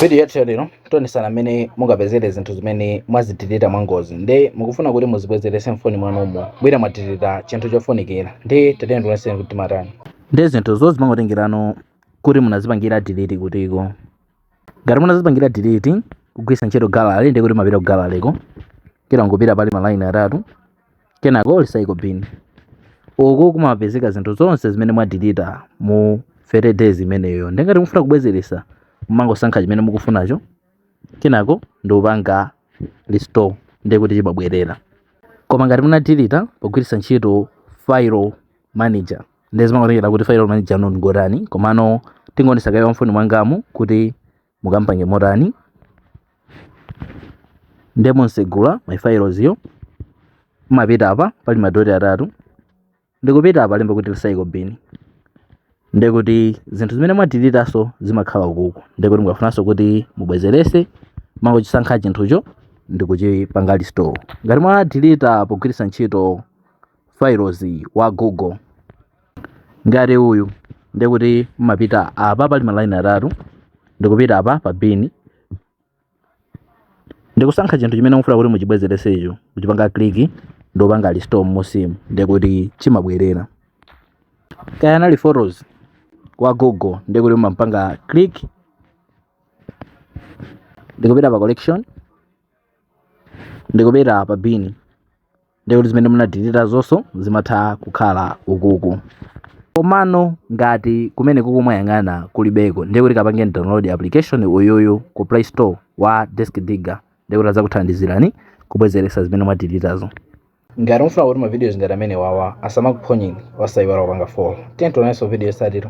Video yathu ya lero tionesana mmene mungapezere zinthu zimene mwazidilita mwangozi nde mukufuna kuti muzibwezerese mfoni mwanumo pena mwadilita chinthu chofunikira nde tatene tioneseni kuti timatani nde zinthuzo zimangotengerano kuti munazipangira delete kutiko. Ngati munazipangira delete kugwiritsa ntchito gallery nde kuti mmapita ku galleryko ila nkupita pali malaini atatu kenako recycle bin uku kumapezeka zinthu zonse zimene mwadilita mu 30 days imeneyo ndengati mufuna kubwezeretsa mumangosankha chimene mukufunacho kenako ndikupanga restore ndiye kuti chimabwerera koma ngati munadilita pogwiritsa ntchito file manager ndiye zimangotengera kuti file manager anu ngotani komano tingoonesa kaye mfoni mwangamu kuti mukampange motani nde mumatsegula my files yo mumapita apa pali madoti atatu ndikupita apa palemba kuti recycle bin ndekuti zinthu zimene mwadilitaso zimakhala ukuku ndekuti mukafunanso kuti mubwezerese mmangochisankha chinthucho ndikuchipanga restore ngati mwadilita pogwiritsa ntchito files wa google ngati uyu ndikuti mumapita apa pali malaini atatu ndikupita apa pa bin ndikusankha chinthu chimene mufuna kuti muchibwezeresecho kuchipanga click ndikupanga restore mmusimu ndikuti chimabwerera kaya anali photos wa google ndikuti mumampanga click ndikupita pa collection ndikupita pa bin ndiye kuti zimene munadilitazonso zimatha kukhala ukuku komano ngati kumeneku kumwayang'ana kulibeko ndiye kuti kampangeni download application uyuyu ku play store wa disk digger ndiye kuti adzakuthandizani kubwezeretsa zimene mwadilitazo ngati mufuna kuti mavidiyo ngati amenewawa asamakuphonyeni osayiwala kupanga follow tiye tionananso vidiyo yotsatira